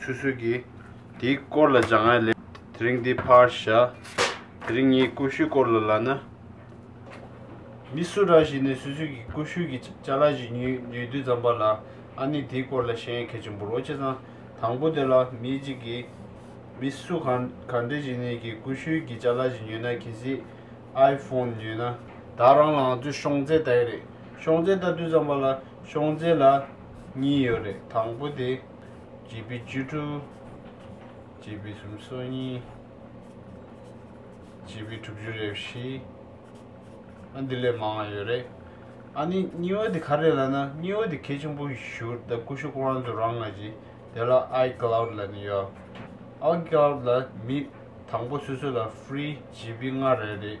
སུས་སུས་ཀྱིས་དེའི་སྐོར་ལ་སྦྱང་ང་ལས། དེ་རིང་འདི་ཕར་བཞག་དེ་རིང་ངའི་ཀུ་ཤུའི་སྐོར་ལ་ལབ་ན། མི་སུ་ར་ཞིག་ནས་སུས་སུས་ཀྱི་ཀུ་ཤུ་ཀྱི་ལྕགས་ལ་ཞིག་ཉོས་དུས་ཙམ་པ་ལ་ཨ་ནི་དེའི་སྐོར་ལ་ཤེས་ཡོན་གལ་ཆེན་པོ་རོ་བྱེད་ཙང་དང་པོ་དེ་ལ་མི་གཅིག་གིས་མི་སུ་གང་གང་འདྲ་ཞིག་ནས་ཀྱི་ཀུ་ཤུའི་ཀྱི་ལྕགས་ལ་ཞིག་ཉོས་ན་གལ་སྲིད་ཨའི་ཕོན་ཉོས་ན་དག་རང་ལའང་ཚོས་ཤོང་རྫས་ལྟ་ཡི་རེད་ཤོང་རྫས་ལྟ་དུས་ཙམ་པ་ལ་ཤོང་རྫས་ལ་གཉིས་ཡོད་རེད་དང་པོ་དེ། བརྒྱད་པའི་བཅུ་དྲུག། བརྒྱད་པའི་སུམ་སོ་གཉིས། བརྒྱད་པའི་དྲུག་ཅུ་རེ་བཞི། ཨ་འདི་ལས་མང་བ་ཡོད་རེད། ཨ་ནི་སྙི་བ་དེ་ག་རེད་ལ་ན་སྙི་བ་དེ་གལ་ཆེན་པོ་ཞུ་ད་ཀུ་ཤུ་ཀོང་རང་ཚོ་རང་ང་ཅི་དེ་ལ I cloud ལ་ནི་ཡོད་ཨ I cloud ལ་མི་དང་པོ་སུ་སུ་ལ free བརྒྱད་པའི་ལྔ་རེ་རེད།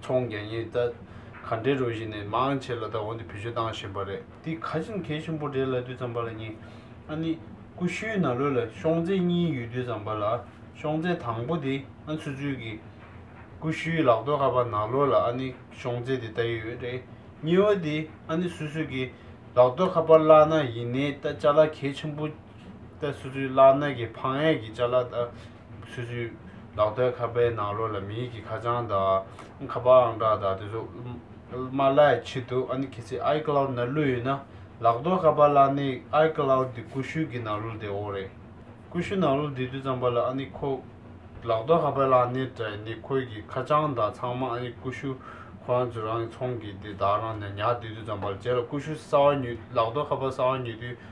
ཚོང་རྒྱག་ཉེན་བརྡ་ག་འདྲའི་རོ་བཞིན་ནས་མང་ཆེ་ལ་ད་འོང་དུ་བེད་སྤྱོད་བཏང་བཞིན་པ་རེད། འདི་ག་ཅིན་གལ་ཆེན་པོ་རེད་ལ་དུས་ཙམ་པ་ལ་ཉིན་ཨ་ནི་ཀུ་ཤུའི་ན་ལོས་ལ་ཤོང་རྫས་གཉིས་ཡོད་དུས་ཙམ་པ་ལ་ཤོང་རྫས་དང་པོ་དེ་ཨ་ཚུལ་ཚུལ་གྱི་ཀུ་ཤུའི་ལག་རྡོ་ཁ་པ་ན་ལོ་ལ་ཨ་ནི་ཤོང་རྫས་དེ་ལྟ་ཡོད་རེད་གཉིས་བ་དེ་ཨ་ནི་སུས་སུས་ཀྱི་ལག་རྡོ་ཁ་པ་བླ་ན་ཡིན་ནའི་ལྟ་བྱ་ལ་གལ་ཆེན་པོ་ལྟ་སུས་སུས་བླ་ན་གི་ཕང་ཡས་ཀྱི་བྱ་ལ་ལྟ། ཆུ་ཆུ། ལག་སྟོད་ཁ་པའི་ནང་རོལ་ལ་མི་ཡིག་གི་ཁ་བྱང་དང། ཁ་པར་ཨང་གྲངས་དང་དེ་ཚོ་དམར་ལྭ་ཡི་ཕྱི་དུ་ཨ་ནི་ཁྱེད་ཚོས I Cloud ནང་བླུགས་ཡོད་ན། ལག་སྟོད་ཁ་པར་ལྭ་ནི I Cloud དེ་ཀུ་ཤུ་གི་ནང་བླུགས་བསྡད་འོ་རེད། ཀུ་ཤུ་ནང་བླུགས་བསྡད་དུས་ཙམ་པ་ལ་ཨ་ནི་ཁོ། ལག་སྟོད་ཁ་པར་ལྭ་ནི་དྲན་ནི་ཁོའི་གི་ཁ་བྱང་དང་ཚང་མ་ཨ་ནི་ཀུ་ཤུ། ཁོ་རང་ཚོས་རང་གི་ཚོང་གི་དེ་དག་རང་ནས་ཉར་བསྡད་དུས་ཙམ་པ་ལ་རྗེས་ལ་ཀུ་ཤུ་གསར་བ་ཉོས་ལག་སྟོད་ཁ་པར་གསར་བ་ཉོས་དུས་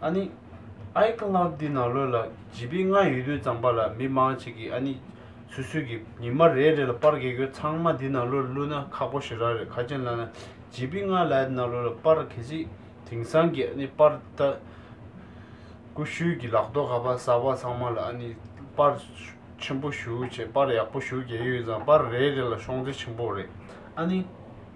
ཨ་ནི། iCloud འདི་ནང་ལོད་ལ་བརྗིད་པའི་ང་ཡོད་དུས་ཙམ་པ་ལ་མི་མང་ཅིག་གིས་ཨ་ནི། སུད་སུད་ཀྱི་ཉི་མ་རེ་རེ་ལ་པར་གེ་གོས་ཚང་མ་འདི་ནང་ལོད་བླུད་ན་ཁག་པོ་ཞེ་རག་རེད་ཁ་ཅན་ལ་ན་བརྗིད་པའི་ང་ལ་ཨ་ནི་ནང་ལོད་ལ་པར་གེ་ཅིག་དེང་སང་གི་ཨ་ནི་པར་ཏ་ཀུ་ཤུལ་གྱི་ལག་ཐོག་ཁ་པར་གསར་པ་ཚང་མ་ལ་ཨ་ནི། པར་ཆེན་པོ་ཞུ་བྱེད་པར་ཡག་པོ་ཞུ་རྒྱལ་ཡོད་ཙང་པར་རེ་རེ་ལ་ཤོང་རྩེ་ཆེན་པོ་རེད་ཨ་ནི།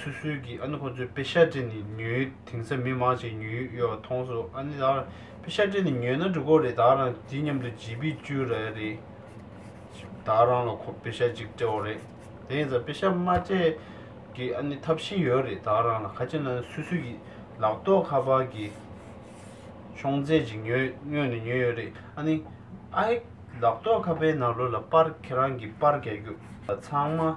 སུད་སུད་ཀྱིས་ཨ་ནི་ཁོ་ཚོའི་པེ་ཤར་ཀྲེ་ནི་ཉོའི་དེང་སང་མི་མང་ཞིག་ཉོས་ཡོད་པ་མཐོང་སོང་ཨ་ནི་ད་པེ་ཤར་ཀྲེ་ནི་ཉོས་ན་འགྲིག་གོ་རེད་ད་རང་དེ་མཉམ་དུ་བརྗེས་པས་བཅུ་རེད་རེད་ད་རང་ལ་ཁོ་པེ་ཤར་གཅིག་སྤྲད་འོ་རེད་དེང་སང་པེ་ཤར་དམར་མཆན་གྱིས་ཨ་ནི་འཐབ་བཞིན་ཡོད་རེད་ད་རང་ལ་ཁ་ཆེ་ན་སུད་སུད་ཀྱིས་ལག་ཐོག་ཁ་པར་གྱི་ཤོང་རྫས་ཅིག་ཉོས་སྔོན་ནས་ཉོས་ཡོད་རེད་ཨ་ནི་ཨ་ཧེ་ལག་ཐོག་ཁ་པའི་ནང་ལོ་ལ་པར་ཁྱེད་རང་གིས་པར་རྒྱག་རྒྱུ་ཚང་མ་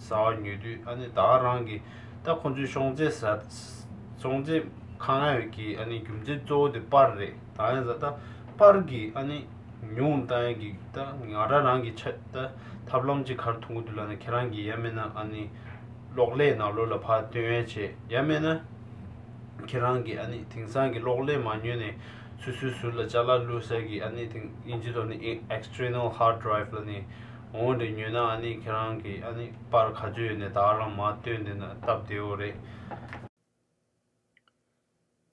ཟ་བར་ཉོས་དུས་ཨ་ནི་དྭགས་རང་གི་ད་ཁོ་ཚོའི་ཤོང་ཚེ་ཟ། ཤོང་ཚེ་ཁ་ང་ཡོད་ཀྱི་ཨ་ནི་རྒྱུ་མཚན་གཙོ་བོ་དེ་པར་རེད་ད་ཡང་ཟ་ད་པར་གི་ཨ་ནི་ཉུང་ད་ཡང་གི་ད་ང་ར་རང་གི་ཆ་ད་ཐབས་ལམ་གཅིག་གར་ཐུག་གི་འདུག་ལ་ན་ཁྱེད་རང་གི་ཡ་མེད་ན་ཨ་ནི་གློག་ཀླད་ནང་ལོ་ལ་ཕར་སྟོན་ཡ་བྱེད་ཡ་མེད་ན་ཁྱེད་རང་གི་ཨ་ནི་དེང་སང་གི་གློག་ཀླད་མ་ཉོས་ནས་སུ་སུའི་ཟུར་ལ་ལྕགས་ལ་བླུགས་ཟེར་གི་ཨ་ནི་དེང་ཨིན་ཇི་ཐོག་ནི་ཨེག་ཨེགས་སྟྲེ་ནལ་ཧར་སྒྲོའི་ལ་ནི། འོང་དེ་ཉོས་ན་ཨ་ནི་ཁྱེད་རང་གི་ཨ་ནི་པར་ག་ཅོ་ཡོད་ནས་དྭགས་རང་མ་སྟོན་དེ་ན་སྟབས་བདེའོ་རེད།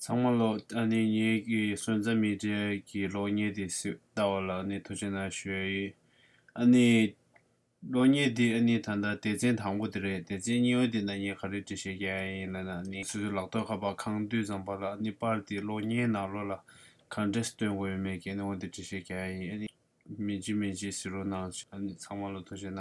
ཚང་མ་ལོག་ཨ་ནི་ངེད་ཀྱི་སོན་རྩ་མི་འདྲ་གི་ལོག་རྙེད་དེ་སུས་ལྟ་བ་ལ་ཨ་ནི་ཐུགས་ཆེ་ན་ཞོའི་ཡིན། ཨ་ནི། ལོག་རྙེད་དེ་ཨ་ནི་ད་ལྟ་སྡེ་ཚན་དང་པོ་དེ་རེད་སྡེ་ཚན་གཉིས་བ་དེ་ན་ངས་ག་རེ་འབྲི་ཤེས་ཀྱི་ཨ་ཡིན་ལ་ན་ཨ་ནི་སོ་སོའི་ལག་ཐོག་ཁ་པར་ཁང་དུད་ཙམ་པར་ལ་ཨ་ནི་པར་དེ་ལོག་རྙེད་ན་ལོ་ལ་ག་འདྲས་སུ་སྟོན་དགོས་ཡོད་མེད་ཀྱི་ཨ་ནི་འོང་དེ་འབྲི་ཤེས་ཀྱི་ཨ་ཡིན་ཨ་ནི། མེ་ལྕེ་མེ་ལྕེ་ཟེར་རོ་གནང། ཚང་མ་ལོ་ཐོ་བྱེད་ན།